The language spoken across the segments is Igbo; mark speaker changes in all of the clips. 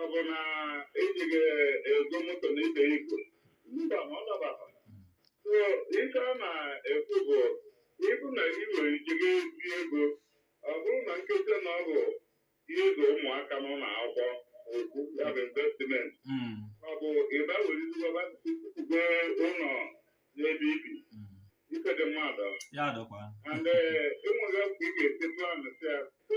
Speaker 1: ọ bụ na ejighị ego moto na ibe igwe mba na ọ dabaa so ife a na-ekwu bụ ịbụ na ị nwere ike je ebi ego ọ bụrụ na nketa na ọ bụ ihe ịzụ ụmụaka nọ na akwụkwọ okwu ya bụ investment Mm, ọ bụ ịba were izigwaba tukwube ụnọ n'ebe ibi mm. ife dị mmadụ ya dọkwa and enweghị ọkụ ị ga-esi plan sị ya so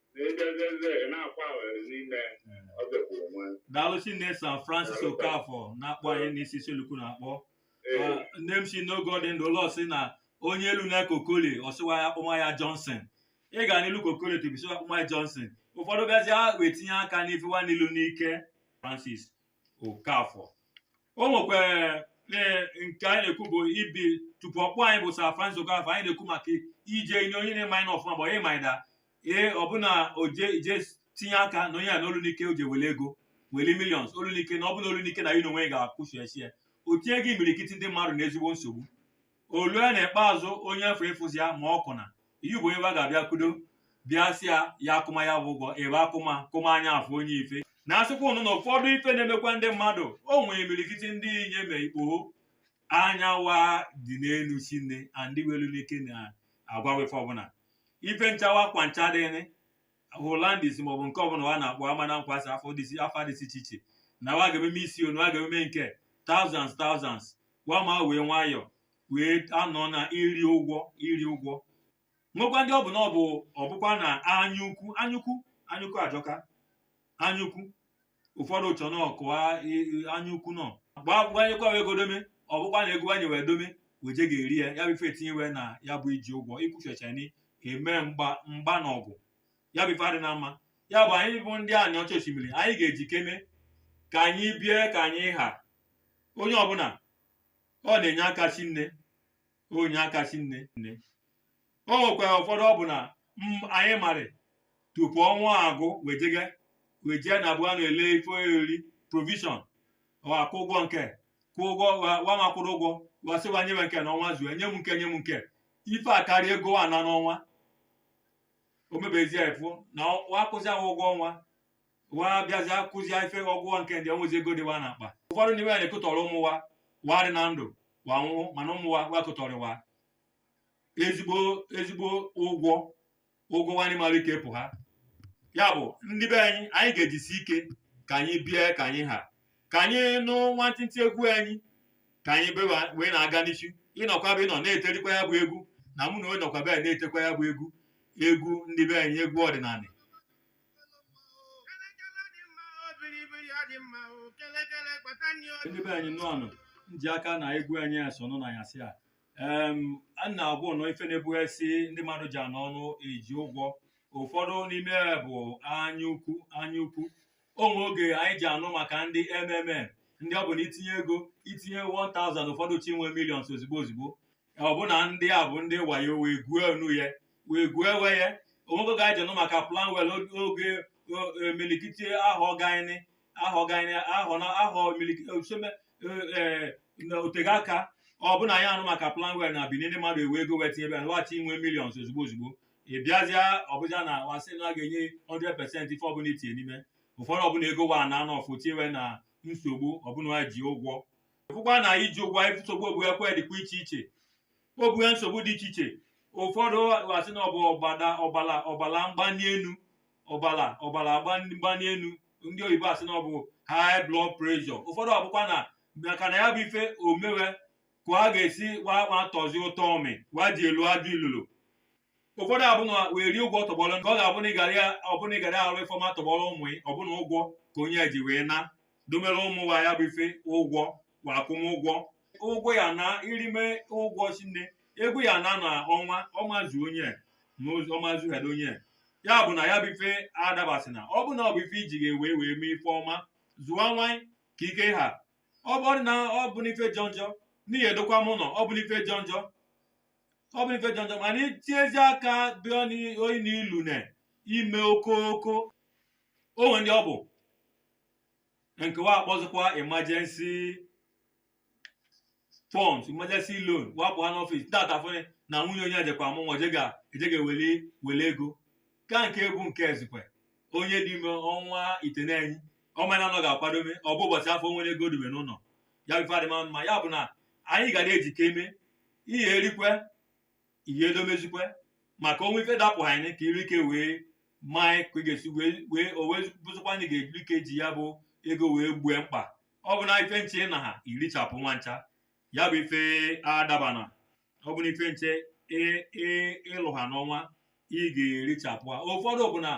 Speaker 1: daalụ shinne sir francis okafọ na-akpọ anyị si issele-uku na-akpọ nne m si n'oge ọ dị ndụ ụlọ sị na onye elu na kokoli ọ sị wa akpọma ya johnson ị ga-elu kokoli tupu ị sị wa akpọma ya johnson ụfọdụ bịazi ha wee tinye aka n'ife wa na-elu n'ike francis okafọ o nwekwara ee, nke anyị na-ekwu bụ ibi tupu ọ kpọọ anyị bụ sir francis okafọ anyị na-ekwu maka ije inye onye na-eme anyị n'ọfụma bụ onye maịda ee ọ bụ na o je ije tinye aka na onye a na olu n'ike o je were ego were millions olu n'ike na ọ bụ na olu n'ike na ya n'onwe ya ga-akwụchi ya o tinyego imirikiti ndị mmadụ na ezigbo nsogbu o lue na ikpeazụ onye afọ ịfụzi ya ma ọ kụna iyi bụ onye wa ga-abịa kudo bịa sị ya ya kwụma ya bụ ụgwọ ebe a kwụma kwụma anya afọ onye ife na asịkwa unu na ụfọdụ ife na-emekwa ndị mmadụ o nwere imirikiti ndị inyom ikpoho anya wa dị n'elu shinne and i welu n'ike na-agwa wa ife ọbụla ife ncha akwa ncha dịrị hollandais maọbụ nke ọbụla wa na-akpọ amana nkwasị afọ dịsi afa dịsi iche iche na wa ga-ememe isi ọnụ wa ga-ememe nke thousands thousands wa ma wee nwayọọ wee anọ na iri ụgwọ iri ụgwọ nwekwa ndị ọ bụ na ọ bụ ọbụkwa na anya ukwu anya ukwu anya ukwu ajọka anya ukwu ụfọdụ chọ na oke anya ukwu nọ gbaa gbanyekwa wee godome ọbụkwa na ego anyị wee dome weje ga-eri ya ya bụ ife etinye wa na ya bụ iji ụgwọ ịkwụchicha na-eme mgba mgba na ọgụ ya bụ ife adịna mma ya bụ anyị bụ ndị aniọcha oshimiri anyị ga-eji ike mee ka anyị bie ka anyị ha onye ọbụla ọ na-enye aka shinne o nye aka shinne nne o nwekwara ụfọdụ ọ bụ na m- anyị marị tupu ọnwa agwụ wa ejego wa ejee na ebe wa na-ele ife oriri provision wa kwụ ụgwọ nke kwụ ụgwọ wa- wa ma akwụrụ ụgwọ wa sị wa nye m nke n'ọnwa zuo nye m nke nye m nke ife akarịa ego wa ana n'ọnwa o mebezie efu na ọ- wa kwụzi wa ụgwọ ọnwa wa bịazi akwụzi ife ọ gwụ nke ndị enwezi ego dị wa na akpa ụfọdụ n'ime ya na-ekụtọrọ ụmụ wa wa dị na ndụ wa nwụọ mana ụmụ wa wa kụtọrọ wa ezigbo ezigbo ụgwọ ụgwọ wa amara ike pụha ya bụ ndị be anyị anyị ga-ejisi ike ka anyị bie ka anyị ha ka anyị nụ nwantịntị egwu anyị ka anyị be wa- wee na-aga n'isi ị nọkwa ebe ị nọ na-etekwa ya bụ egwu na mụ na onye nọkwa be anyị na-etekwa ya bụ egwu egwu ndị be anyị egwu ọdịnanị ndị be anyị nnọọ nụ nji aka na egwu anyị asọ unu n'anyasị a em a na-agwa unu ife na-ebughasị ndị mmadụ ji anọ ọnụ eji ụgwọ ụfọdụ n'ime ya bụ anya ukwu anya ukwu o nwe oge anyị ji anụ maka ndị mmm ndị ọ bụ na i tinye ego i tinye 1000 ụfọdụ chọ inwe millions ozigbo ozigbo ọ bụ na ndị a bụ ndị wayo wee gwuo enu ya wee gwuo ewe ya o nwe oge e ji anụ maka planwell oge o- e, milikiti ahọ gaini ahọ gaini ahọ na ahọ milikiti osome na o tego aka ọ bụ na anyị anụ maka planwell na bini ndị mmadụ ewe ego weta ebe a wa chọ inwe millions ozugbo ozugbo ị bịazịa ọ bụzị na wa sị na a ga-enye 100 percent ife ọbụla i tinye n'ime ụfọdụ ọ bụ na ego wa na anọ ọfụ tiwe na nsogbu ọ bụ na wa ji ụgwọ fụkwa na iji ụgwọ a nsogbu ogbu ekwe dịkwa iche iche ogbu ya nsogbu dị iche iche ụfọdụ wa sị na ọ bụ ọbala ọbala mgbani elu ọbala ọbala mgbani elu ndị oyibo asị na ọ bụ high blood pressure ụfọdụ ọ bụkwa na maka na ya bụ ife o mewe ka a ga-asị ụwa atọzi ụtọ ọmị wa dị ilu adị ilu ilu ụfọdụ abụ na wa rie ụgwọ tọgbọrọ nke ọ ga-abụ na ị gara ya ọ bụ na ị gara arụ ife ọma tọgbọrọ ụmụ ya ọ bụ na ụgwọ ka onye ji wee na-edomere ụmụ wa ya bụ ife ụgwọ kwa akwụmụgwọ ụgwọ ya na irime ụgwọ chinne ego ya na na ọnwa ọmazu onye ma ozu- ọmazu hada onye ya bụ na ya bụ ife adabasị na ọ bụ na ọ bụ ife i ji ga-ewe wee mee ife ọma zụwa nwa gị ka ike ha ọ bụ na ọ bụ n'ife jọ njọ n'ihi edokwa m ụlọ ọ bụ n'ife jọ njọ ọ bụrụ ife jọ njọ mana itiezi aka bịa oyi na ilu na ime okooko o nwe ndị ọ bụ nke wa akpọzikwa emergency funds emergency loan wa pụha n'ọfịs tata fụnị na nwunye onye ejekwa amụ nwa ejega ejega wele wele ego ka nke bụ nke eziokwu onye dị ime ọnwa itenanị ọ mana na ọ ga-akwadome ọ bụ ụbọchị afụ o nwere ego dobe n'ụlọ ya bụ ife adịma mma ya bụ na anyị ga na-ejikeme ihe e rikwe ihe e domezikwe maka o nwe ife dapụhanị ka iri ike wee maa ka ị ga-esi wee o wee bụzikwa anyị ga-ejiri ike ji ya bụ ego wee gboo mkpa ọ bụ na ife ncha ị naha i richapụ wa ncha ya bụ ife adabana ọ bụ na ife ncha ị lụha n'ọnwa ị ga-erichapụ ha ụfọdụ bụ na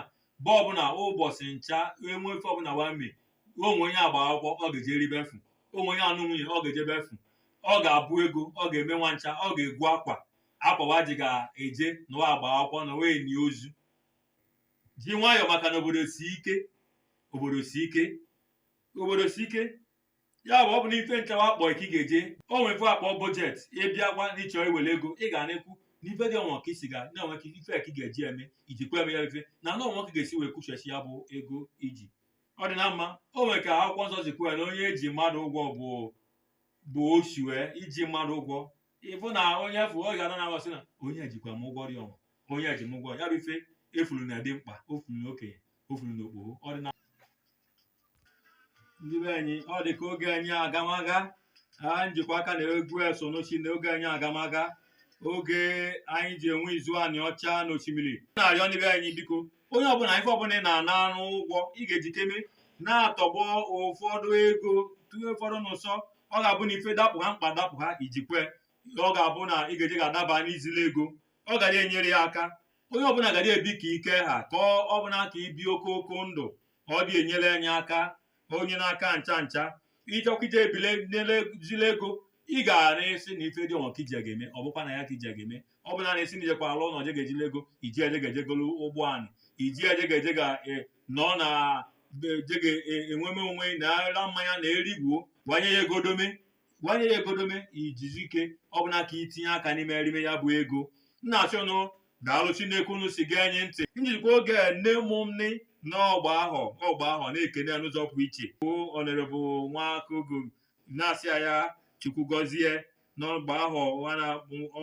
Speaker 1: bụ ọ bụ na ụbọchị ncha e nwe ife ọbụla wa me o nwe onye agba akwụkwọ ọ ga-ejeri ebe afụ o nwe onye anụ nwunye ọ ga-eje ebe afụ ọ ga-abụ ego ọ ga-eme wa ncha ọ ga-ego akwa akwa wa ji ga-eje na wa agba akwụkwọ na wa eni ozu ji nwayọọ maka na obodo si ike obodo si ike obodo si ike ya bụ ọ bụ n'ife nchekwa akpọ ka ị ga-eje o nwere ife a kpọ budget ị bịa gwa ndị chọrọ iwere ego ị ga na-ekwu n'ife dị ọnwa ka isi ga na-enwe ka ife ka ị ga-eji eme iji kwe eme ya ife na na ọnwa ka ị ga-esi wee kwụghachi ya bụ ego i ji ọ dị na mma o nwere ka akwụkwọ nsọ si kwuo ya na onye eji mmadụ ụgwọ bụ bụ ochi wee iji mmadụ ụgwọ ị fụ na onye afụ ọ ga-ana na aghọsị na onye jikwa m ụgwọ dị ọnwa onye eji m ụgwọ ya bụ ife efuru na dị mkpa o furu na okenye o furu na okpoho ọ dị na ndị be anyị ọ dị ka oge anyị agamaga ha njikwa aka na egwu eso n'ochi na oge anyị agamaga oge anyị ji enwe izu aniọcha n'osimiri na-arịọ ndị be anyị biko onye ọbụna ife ọbụna ị na-ana arụ ụgwọ ị ga-eji ike me na-atọgbọ ụfọdụ ego tụnye ụfọdụ n'ụsọ ọ ga-abụ na ife dapụha mkpa dapụha ijikwe ọ ga-abụ na ị ga-eji ga-adaba n'izili ego ọ gara enyere ya aka onye ọbụna gara ebi ka ike ha ka ọ bụna ka ibi oke oke ndụ ma ọ dị enyere anyị aka ma onye n'aka ncha ncha ị chọkwa ije ebile zile ego ị ga-ara asị na ife dị ọnwa ka i ji ya ga-eme ọ bụkwa na ya ka i ji ya ga-eme ọ bụ na na esi na ijekwa alụ ụnọ je ga-ezile ego iji eje ga-eje golu ụgbọ anị iji eje ga-eje ga e, nọ na e, je ga-enweme onwe na-ara mmanya na-erigbuo gbanye ya ego dome gbanye ya ego dome i jisi ike ọ bụna ka itinye aka n'ime erime ya bụ ego m na-asị unu daalụ shinne ka unu si gee anyị ntị njizikwa oge nne mụ m nị n'ọ gba ahọ ọ gba ahọ na-ekene ya n'ụzọ pụrụ iche bụ honourable nwakogo na-asị ya ya chukwu gọzie n'ọ gba ahọ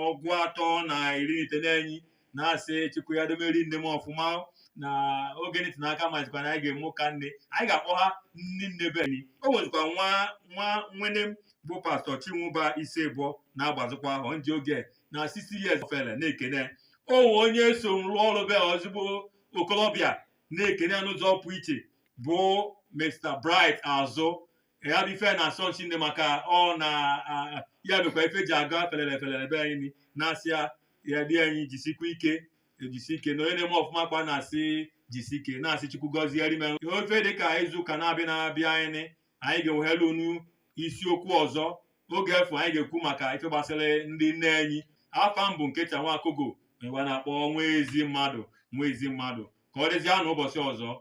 Speaker 1: ọgụ atọ na iri na itenani na-asị chukwu ya domeri nne m ọfụma na oge nịtị n'aka mazikwa na anyị ga-eme ụka nne anyị ga-akpọha nne nne be anyị o nwezikwa nwa nwa nwene m bụ pastọ chinwụba isibor na-agbazikwa ahọ nji oge na 60 years ofele na-ekene o nwe onye so m rụọ ọrụ bụ ezigbo okolobịa na-ekene ya n'ụzọ pụ iche bụ mr bright azụ ya bụ ife na-asọ m shinne maka ọ na a- ya mekwa ife ji aga felele felele be anyị ni na-asị ya ya dị anyị jisikwa ike ejisi ike na onye na-eme ọfụma ka a na-asị jisi ike na-asị chukwu gọzie rime ofe dị ka izu ụka na-abịa na-abịa anyị ni anyị ga-ewehelu unu isiokwu ọzọ oge afụ anyị ga-ekwu maka ife gbasara ndị nne anyị afa m bụ Nkechi Nwakogo wa na-akpọ nwa ezi mmadụ nwa ezi mmadụ ka ọ dịzie n'ụbọchị ọzọ